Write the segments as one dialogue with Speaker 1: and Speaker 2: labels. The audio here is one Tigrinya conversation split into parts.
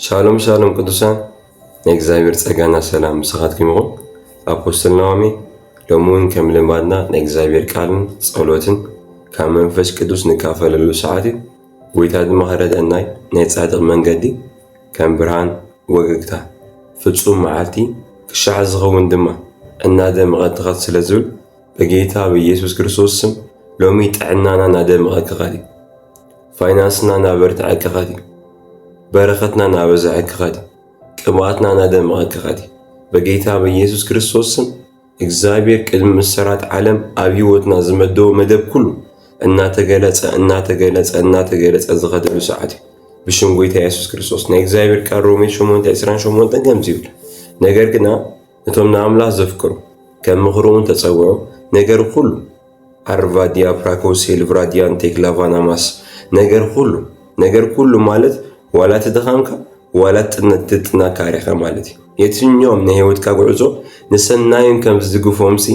Speaker 1: ሻሎም ሻሎም ቅዱሳን ናይ እግዚኣብሔር ጸጋና ሰላም ምሳኻትኩም ይኹን። ኣፖስትል ነዋሜ ሎሚ እውን ከም ልማድና ናይ እግዚኣብሔር ቃልን ጸሎትን ካብ መንፈስ ቅዱስ ንካፈለሉ ሰዓት እዩ። ጎይታ ድማ ክረድአናይ ናይ ጻድቕ መንገዲ ከም ብርሃን ወገግታ ፍጹም መዓልቲ ክሻዕ ዝኸውን ድማ እናደመቐት ትኸት ስለ ዝብል በጌታ ብኢየሱስ ክርስቶስ ስም ሎሚ ጥዕናና ናደመቐ ክኸድ እዩ ፋይናንስና ናበርትዐ ክኸድ እዩ በረኸትና ናበዝሐ ክኸድ እዩ ቅብኣትና ናደመቐ ክኸድ እዩ በጌታ ብኢየሱስ ክርስቶስ ስም እግዚኣብሔር ቅድሚ ምሰራት ዓለም ኣብ ህይወትና ዝመደቦ መደብ ኩሉ እናተገለጸ እናተገለጸ እናተገለጸ ዝኸደሉ ሰዓት እዩ ብሽም ጎይታ ኢየሱስ ክርስቶስ ናይ እግዚኣብሔር ቃል ሮሜ 8 28 ከምዚ ይብል ነገር ግና እቶም ንኣምላኽ ዘፍቅሩ ከም ምኽሩ እውን ተጸውዑ፣ ነገር ዅሉ ኣርቫዲያ ፕራኮሴል ቭራዲያን ቴክላቫናማስ ነገር ዅሉ ነገር ኵሉ ማለት ዋላ እቲ ድኻምካ ዋላ እቲ ጥናካሬኻ ማለት እዩ። የትኛውም ናይ ህይወትካ ጕዕዞ ንሰናዩን ከም ዝድግፎምሲ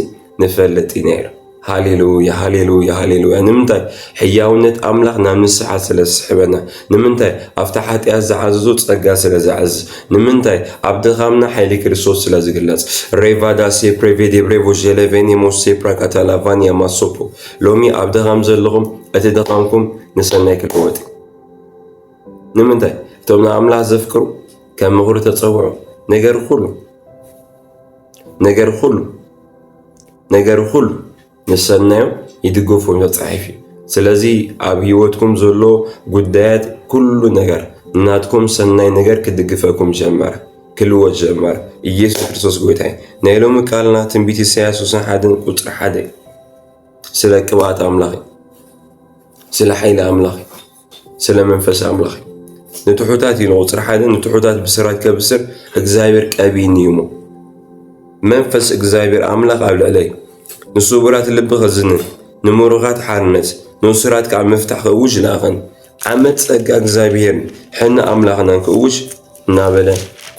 Speaker 1: ንፈልጥ ኢና ኢሉ። ሃሌሉያ ሃሌሉያ ሃሌሉያ ንምንታይ ሕያውነት ኣምላኽ ናብ ንስሓ ስለ ዝስሕበና ንምንታይ ኣብቲ ሓጢኣት ዝዓዘዞ ጸጋ ስለ ዝዓዝዝ ንምንታይ ኣብ ድኻምና ሓይሊ ክርስቶስ ስለ ዝግለጽ ሬቫዳ ሴፕሬቬ ዴብሬቮ ዤሌቬኔ ሞስ ሴፕራካታላቫን ያማሶፖ ሎሚ ኣብ ድኻም ዘለኹም እቲ ድኻምኩም ንሰናይ ክልወጥ ንምንታይ እቶም ንኣምላኽ ዘፍቅሩ ከም ምኽሩ ተጸውዑ ነገር ኩሉ ነገር ኹሉ ነገር ኹሉ ንሰናዩ ይድገፎ መፅሓፍ እዩ። ስለዚ ኣብ ህይወትኩም ዘሎ ጉዳያት ኩሉ ነገር ናትኩም ሰናይ ነገር ክድግፈኩም ጀመረ፣ ክልወጥ ጀመረ። ኢየሱስ ክርስቶስ ጎይታ እዩ። ናይ ሎሚ ቃልና ትንቢት ኢሳያስ ውስን ሓደን ቁፅሪ ሓደ እዩ። ስለ ቅብኣት ኣምላኽ እዩ። ስለ ሓይሊ ኣምላኽ እዩ። ስለ መንፈስ ኣምላኽ እዩ ንትሑታት እዩ ንቁፅሪ ሓደ ንትሑታት ብስራት ከብስር እግዚኣብሔር ቀቢኒ እዩ እሞ መንፈስ እግዚኣብሔር ኣምላኽ ኣብ ልዕለይ ንስቡራት ልቢ ከዝንን ንምሩኻት ሓርነት ንእሱራት ከዓ ምፍታሕ ክእውጅ ለኣኸን ዓመት ጸጋ እግዚኣብሔርን ሕነ ኣምላኽናን ክእውጅ እናበለ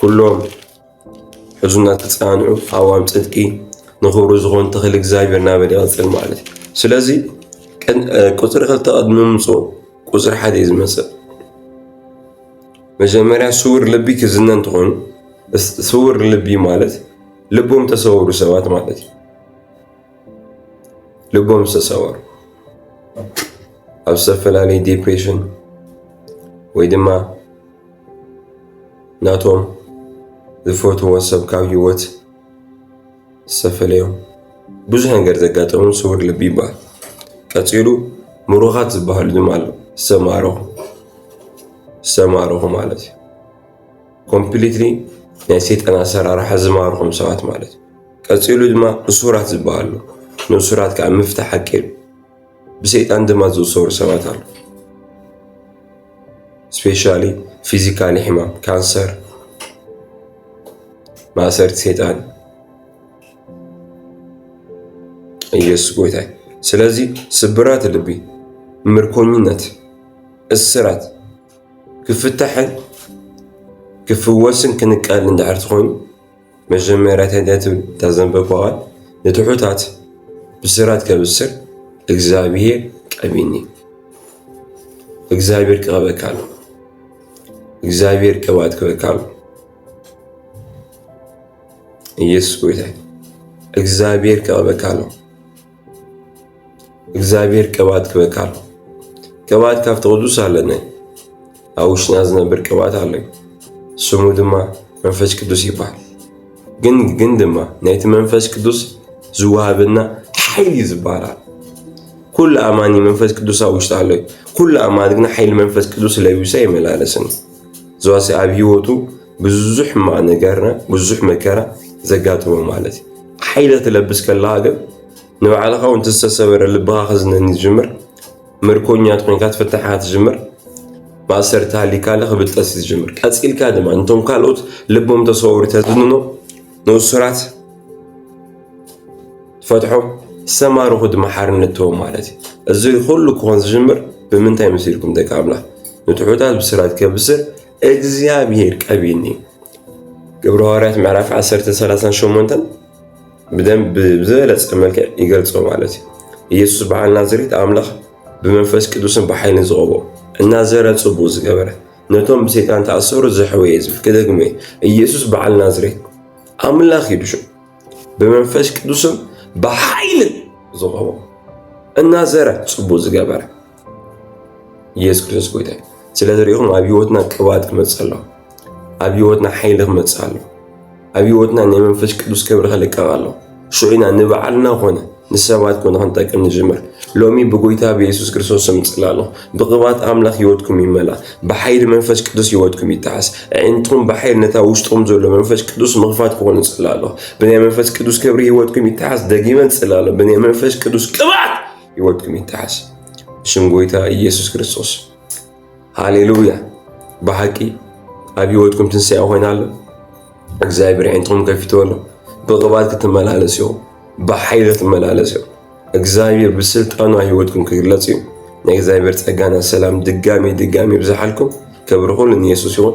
Speaker 1: ኩሎም ሕዙናት ተፃንዑ ሃዋም ፅድቂ ንኽብሩ ዝኾኑ ተኽሊ እግዚኣብሔር ናበል ይቐፅል ማለት እዩ ስለዚ ቁፅሪ ክልተ ቅድሚ ምምፅኡ ቁፅሪ ሓደ እዩ ዝመፅእ መጀመርያ ስውር ልቢ ክዝነ እንትኾኑ ስውር ልቢ ማለት ልቦም ተሰወሩ ሰባት ማለት እዩ ልቦም ዝተሰወሩ ኣብ ዝተፈላለየ ዲፕሬሽን ወይ ድማ ናቶም ዝፈትዎ ሰብ ካብ ህይወት ዝተፈለዮም ብዙሕ ነገር ዘጋጠሙ ስውር ልቢ ይበሃል። ቀፂሉ ምሩኻት ዝበሃሉ ድማ ኣሎ ዝተማረኹ ዝተማረኹ ማለት እዩ። ኮምፕሊትሊ ናይ ሰይጣን ኣሰራርሓ ዝማርኹም ሰባት ማለት እዩ። ቀፂሉ ድማ እሱራት ዝበሃሉ ንእሱራት ከዓ ምፍታሕ ሓቂ እዩ። ብሰይጣን ድማ ዝእሰሩ ሰባት ኣሉ ስፔሻሊ ፊዚካሊ ሕማም ካንሰር ማእሰርቲ ሰይጣን ኢየሱስ ጎይታ ስለዚ ስብራት ልቢ ምርኮኝነት እስራት ክፍታሕን ክፍወስን ክንቀል እንድሕር ትኾይኑ መጀመርያ ተድያ ትብል እታ ዘንበብኩ ቃል ንትሑታት ብስራት ከብስር እግዚኣብሄር ቀቢኒ እግዚኣብሄር ክቐበካ ኣሎ እግዚኣብሄር ቅብኣት ክበካ ኣሎ ኢየሱስ ጎይታ እግዚኣብሄር ክቐበካ ኣሎ እግዚኣብሔር ቅብኣት ክበካ ኣሎ ቅብኣት ካብቲ ቅዱስ ኣለነ ኣብ ውሽጥና ዝነብር ቅብኣት ኣሎ ስሙ ድማ መንፈስ ቅዱስ ይበሃል ግን ግን ድማ ናይቲ መንፈስ ቅዱስ ዝወሃበና ሓይሊ ዝበሃል ኩሉ ኣማኒ መንፈስ ቅዱስ ኣብ ውሽጡ ኣሎ ኩሉ ኣማኒ ግን ሓይሊ መንፈስ ቅዱስ ለቢሶ ይመላለስን ዝዋሰ ኣብ ህይወቱ ብዙሕ ሕማቅ ነገርና ብዙሕ መከራ ዘጋጥሞ ማለት እዩ ሓይለ ትለብስ ከለካ ግን ንባዕልኻ እውን ዝተሰበረ ልብኻ ክዝነኒ ዝጅምር ምርኮኛት ኮይንካ ትፍታሕ ትጅምር ማእሰርቲ ሃሊካ ለኽ ብልጠት ዝጅምር ቀፂልካ ድማ እንቶም ካልኦት ልቦም ተሰወሩ ተዝንኖ ንእሱራት ፈትሖም ዝተማርኹ ድማ ሓርነት ትቦም ማለት እዩ እዚ ኩሉ ክኾን ዝጅምር ብምንታይ መሲልኩም ደቂ ኣምላኽ ንትሑታት ብስራት ከብስር እግዚኣብሔር ቀቢኒ ግብረ ሐዋርያት ምዕራፍ 10 38 ብደንብ ብዝበለፀ መልክዕ ይገልጾ ማለት እዩ። ኢየሱስ በዓል ናዝሬት ኣምላኽ ብመንፈስ ቅዱስን ብሓይልን ዝቐቦ እናዘረ ጽቡቕ ዝገበረ ነቶም ብሰይጣን ተኣሰሩ ዘሕወየ ዝብል ክደግሞ ኢየሱስ በዓል ናዝሬት ኣምላኽ እዩ ድሹ ብመንፈስ ቅዱስን ብሓይልን ዝቐቦ እናዘረ ጽቡቕ ዝገበረ ኢየሱስ ክርስቶስ ጎይታ እዩ። ስለ ዝሪኢኹም ኣብ ህይወትና ቅብኣት ክመፅእ ኣሎ። ኣብ ህይወትና ሓይሊ ክመፅእ ኣሎ። ኣብ ህይወትና ናይ መንፈስ ቅዱስ ክብሪ ክልቀቕ ኣሎ። ሽዑ ኢና ንባዕልና ኮነ ንሰባት ኮነ ክንጠቅም ንጅምር። ሎሚ ብጎይታ ብኢየሱስ ክርስቶስ ስም ጽላሎ ብቅብኣት ኣምላኽ ህይወትኩም ይመላ ብሓይሊ መንፈስ ቅዱስ ህይወትኩም ይተሓስ ኣዒንትኩም ብሓይሊ ነታ ውሽጥኩም ዘሎ መንፈስ ቅዱስ ምኽፋት ክኾኑ ጽላሎ ብናይ መንፈስ ቅዱስ ክብሪ ህይወትኩም ይተሓስ ደጊመን ጽላሎ ብናይ መንፈስ ቅዱስ ቅብኣት ህይወትኩም ይተሓስ ብሽም ጎይታ ኢየሱስ ክርስቶስ። ሃሌሉያ! ብሓቂ ኣብ ህይወትኩም ትንሣኤ ኮይና ኣሎ። እግዚኣብሔር ዓይንትኩም ከፊቶ ኣሎ። ብቕባት ክትመላለስ እዩ፣ ብሓይሊ ክትመላለስ እዩ። እግዚኣብሔር ብስልጣኑ ህይወትኩም ክግለጽ እዩ። ናይ እግዚኣብሔር ጸጋና ሰላም ድጋሚ ድጋሚ ይብዝሓልኩም። ክብሪ ኩሉ ንየሱስ ይኹን።